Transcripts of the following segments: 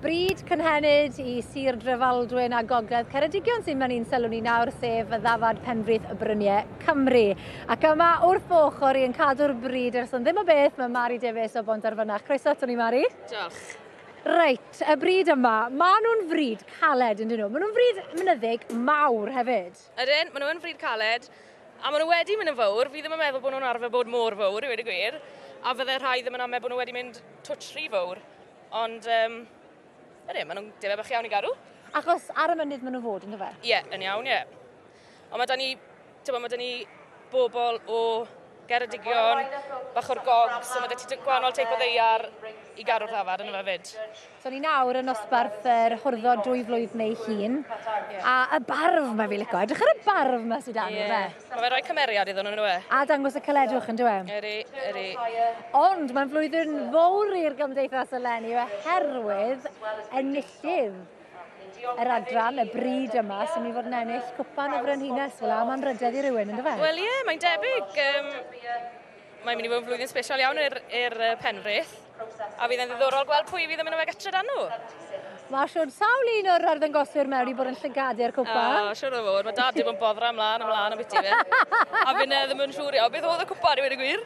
Bryd cynhenid i Sir Drefaldwyn a Gogledd Ceredigion sy'n mynd i'n sylw ni nawr, sef y ddafad penfrith y bryniau Cymru. Ac yma wrth fy ochr i yn cadw'r bryd ers yn ddim o beth, mae Mari Davies o Bont Arfynach. Croeso ato ni, Mari. Diolch. Reit, y bryd yma, maen nhw'n fryd caled yn dyn nhw. Maen nhw'n fryd mynyddig mawr hefyd. Ydyn, maen nhw yn frîd caled, a maen nhw wedi mynd yn fawr. Fi ddim yn meddwl bod nhw'n arfer bod mor fawr, i wedi gwir. A fydde rhai ddim yn amau bod nhw wedi mynd twtsh rhy fawr. Ond, um, ydyn, maen nhw'n debau bach iawn i garw. Achos ar y mynydd maen nhw fod, ynddo fe? Ie, yn iawn, ie. Ond mae da ni, tyma, mae da ni bobl o Geredigion, bach o'r gogs, so mae 'da ti gwahanol teip o ddeiar i garu'r ddafad yn yma fyd. So ni nawr yn nosbarth yr hwrddo dwy flwyddyn ei hun. A y barf mae fi lico. Edrych ar y barf mae sydd dan yeah. fe. Mae fe'n rhoi cymeriad iddyn nhw, yn yw e? A dangos y cyledwch, yn dwi e? Yri, yri. Ond mae'n flwyddyn fawr i'r gymdeithas eleni oherwydd enillydd. yr adran y bryd yma sy'n mynd i fod yn ennill cwpan o frenhines fel am anrhydedd i rywun, ynddo fe? Wel ie, yeah, mae'n debyg. Um, mae'n mynd i fod yn flwyddyn special iawn i'r er, er penrith, a fydd yn ddiddorol gweld pwy fydd yn mynd o fe gytre dan nhw. Mae siwr sawl un o'r arddangoswyr mewn i bod yn llygadu'r cwpan. O, oh, siwr o fod. Mae dad i bod yn boddra ymlaen, ymlaen am biti fe. a fi'n ddim yn siwr iawn. Beth oedd y cwpan i wedi gwir?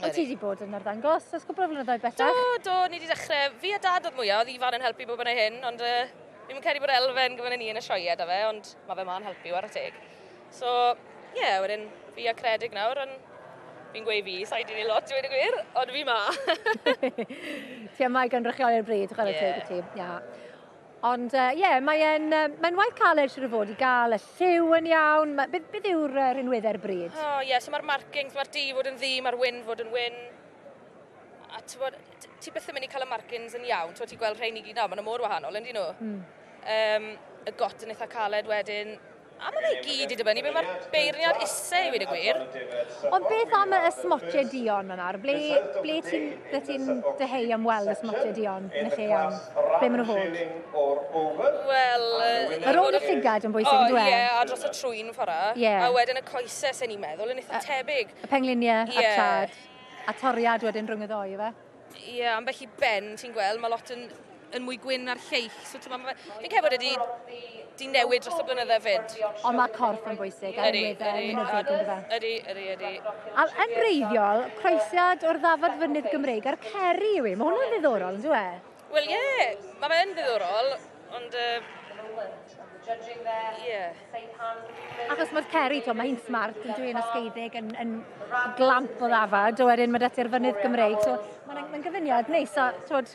Wyt ti wedi bod yn arddangos ers cwpl o flynyddoedd bellach? Do, do, ni wedi dechrau. Fi a dad oedd mwyaf, oedd Ifan yn helpu bob yna hyn, ond uh, fi'n mynd credu bod Elfen gyfer ni yn y sioe da fe, ond mae fe ma'n helpu ar y teg. So, ie, yeah, wedyn fi a Credig nawr, ond fi'n gweud fi, sa'i di ni lot dweud y gwir, ond fi ma. ti am mae gan rychioli'r bryd, chwarae yeah. teg i ti. Yeah. Ond ie, uh, yeah, mae'n uh, mae waith caled siwr o fod i gael y lliw yn iawn. Mae, beth, beth yw'r uh, rhinwedd e'r bryd? O, oh, ie, yeah, so mae'r markings, mae'r di fod yn ddi, mae'r wyn fod yn wyn. A ti, bod, ti beth yn mynd i cael y markings yn iawn, ti'n ti gweld rhain i gyd nawr, maen nhw mor wahanol, yn dyn nhw. Mm. Um, y got yn eitha caled wedyn, A mae fe i gyd i dibynnu be mae'r beirniad isie i weud y gwir. Ond beth am y smotie duon yna? Ble, ble ti'n ble ti'n dyheu am weld y smotie duon yn y lle iawn? Ble maen nhw fod? Wel... Yr ôl y llygad yn bwysig yndyw e? O ie, a dros y trwyn fora. Ie. A wedyn y coese, sa'n i'n meddwl, yn eitha tebyg. Y pengliniau a'r traed. Ie. A toriad wedyn rhwng y ddou, ife? Ie, yeah, ambell i ben, ti'n gweld, mae lot yn, yn mwy gwyn ar lleill. So, ti'n meddwl, fi'n credu bod wedi di newid dros y blynydde fyd. Ond mae corff yn bwysig, er ydy, ydy, ydy, ydy, ydy. A yn reiddiol, croesiad o'r ddafod fynydd Gymreig a'r ceri yw i. Mae hwnna'n ddiddorol, yn dwi e? Wel ie, mae fe yn ddiddorol, ond uh, ie. Achos mae'r Ceri, to, mae hi'n smart, yn dwi'n ysgeidig, yn, yn glamp o ddafad, a wedyn mae dati'r fynydd Gymreig. So, mae'n mae gyfuniad neis, a twod,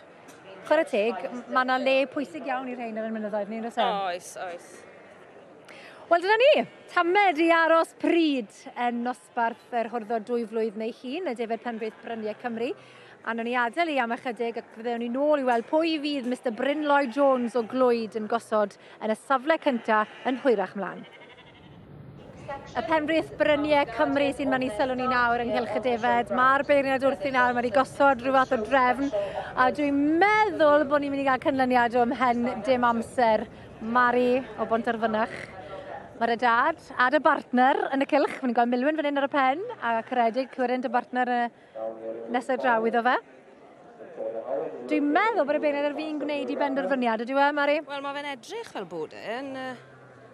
chwarae teg, mae yna le pwysig iawn i'r rhain ar y mynyddoedd ni'n rhywbeth. E? Oes, oes. Wel, dyna ni. Tamed i aros pryd yn nos dosbarth yr horddo dwy flwydd neu hun y defaid penrith bryniau Cymru. A nhw'n ei adael i am ychydig ac fyddewn ni nôl i weld pwy fydd Mr Bryn Lloyd Jones o Glwyd yn gosod yn y safle cyntaf yn hwyrach mlaen. Y penrith bryniau Cymru sy'n mynd i sylw ni nawr ynghylch y defed. Mae'r beirniad wrthi nawr, mae wedi gosod rhyw fath o drefn, a dwi'n meddwl bod ni'n mynd i gael cynlyniad o'm hen dim amser Mari o Bontarfynach. Mae dy dad a dy bartner yn y cylch. Mae'n gweld milwyn fan hyn ar y pen a caredig Cwyrin dy bartner y nesaf draw iddo fe. Dwi'n meddwl bod y beirniad ar fi'n gwneud i benderfyniad, ydyw e, Mari? Wel, mae fe'n edrych fel bod e'n uh,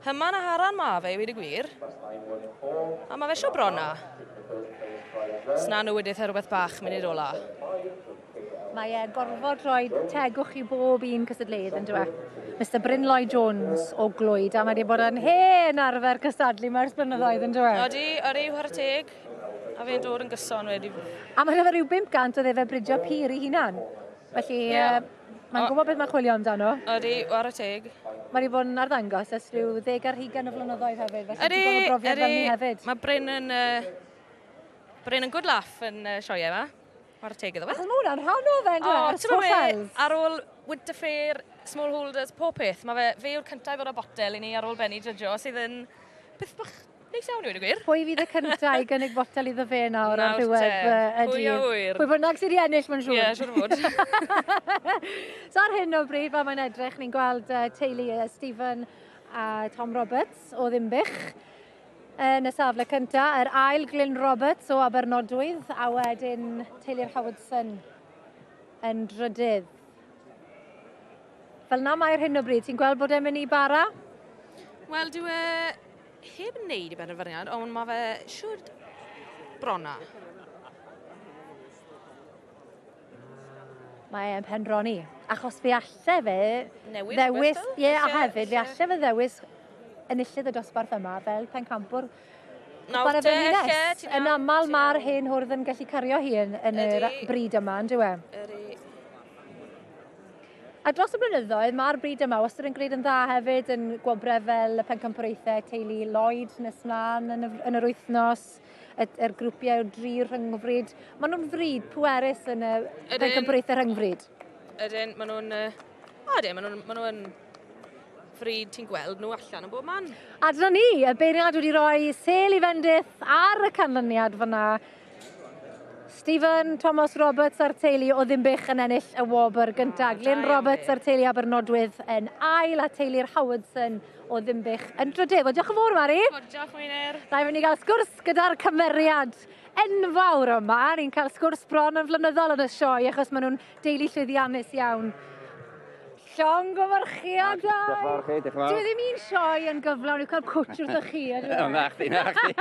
hyman a haran ma fe, i wedi gwir. A mae fe sio brona. Sna nhw wedi eitha rhywbeth bach mynd i'r ola. Mae e gorfod rhoi tegwch i bob un cystadleuydd yn dweud. Mr Bryn Lloyd Jones o Glwyd a mae wedi bod yn hen arfer cystadlu mae'r blynyddoedd yn dweud. Odi, odi, chwarae teg. A fe'n dod yn gyson wedi. A mae rhyfedd rhyw 500 o ddefe bridio pur i hunan. Felly, yeah. uh, mae'n gwybod beth mae'n chwilio amdano. Odi, chwarae teg. Mae wedi bod yn arddangos ys rhyw ddeg ar hugen o flynyddoedd hefyd. Felly, odi, odi, hefyd. Mae Bryn yn... Uh, Bryn yn good laugh yn uh, sioiau yma. Mae'r teg iddo fe. Achos mae hwnna'n rhan o fe, O, ti'n meddwl, ar ôl Winter Fair, Small Holders, pob peth, mae fe, fe yw'r cyntaf i ddod â botel i ni ar ôl Benny Judge, sydd yn peth bach neis iawn i wedi gwir. Pwy fydd y cyntaf i gynnig botel iddo fe nawr ar ddiwedd y Pwy a wyr. Pwy bynnag sydd i ennill, mae'n siŵr. Ie, yeah, siŵr o fod. so ar hyn o bryd, fel mae'n edrych, ni'n gweld uh, teulu uh, Stephen a Tom Roberts o Ddimbych. Yn y safle cyntaf, yr ail Glyn Roberts o Abernodwydd a wedyn teulu'r Howardson yn drydydd. Fel na mae'r hyn o bryd, ti'n gweld bod e'n mynd i bara? Wel, dwi e heb wneud i benderfyniad, ond mae fe siwr brona. Mae e'n penroni. Achos fe alle fe Newid ddewis... Rhywbeth, ie, a hefyd fe alle fe ddewis enillydd y dosbarth yma fel pencampwr Nawr te, lle, ti'n iawn? Yn aml mae'r hen hwrdd yn gallu cario hi yn, yn yr bryd yma, yn dywe? Ydy. A dros y blynyddoedd, mae'r bryd yma wastad yn gwneud yn dda hefyd yn gwobrau fel y pencampwraethau teulu Lloyd nes mlaen yn y, yn yr wythnos. y, er grwpiau o dri rhyngfryd. Maen nhw'n fryd pwerus yn y pencampwriaethau rhyngfryd. Ydyn, maen nhw'n... Uh, ydyn, maen nhw'n... Maen nhw'n fryd ti'n gweld nhw allan yn bob man. A dyna ni, y beirniad wedi rhoi sel i fendith ar y canlyniad fyna. Stephen Thomas Roberts a'r teulu o Ddimbych yn ennill y wobr gyntaf. Oh, Glyn Roberts a'r teulu Abernodwydd yn ail a teulu'r Howardson o Ddimbych yn Drydewr. Diolch yn fawr, Mari. Diolch, Wynir. Da i fynd i gael sgwrs gyda'r cymeriad enfawr yma. Ni'n cael sgwrs bron yn flynyddol yn y sioe achos maen nhw'n deulu llwyddiannus iawn. Llong o farchiadau! Diolch yn fawr chi, diolch yn fawr. Dwi ddim i'n sioe yn gyflawn i'w cael cwtch wrth o'ch chi. Na chdi, na chdi.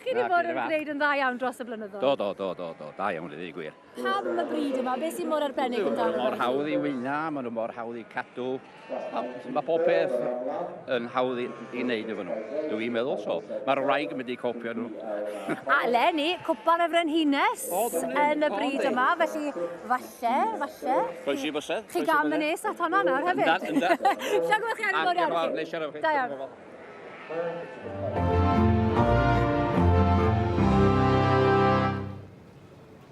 Chi wedi bod yn gwneud yn dda iawn dros y blynyddoedd. Do, do, do, do, do. Da iawn, dwi gwir. Pam y bryd yma? Beth sy'n mor arbennig yn dan? Mor hawdd i wyna, maen nhw mor hawdd i cadw. Mae pob peth yn hawdd i, i wneud efo nhw. Dw i'n meddwl so. Mae'r wraig yn mynd i copio nhw. A Lenny, cwpan y frenhines yn y bryd yma, felly falle, falle... Croes i bysedd. Chi gam yn nes at honna nawr hefyd. Yndan, yndan. Sian gweld chi ar y fawr iawn. Diolch yn fawr, Da iawn.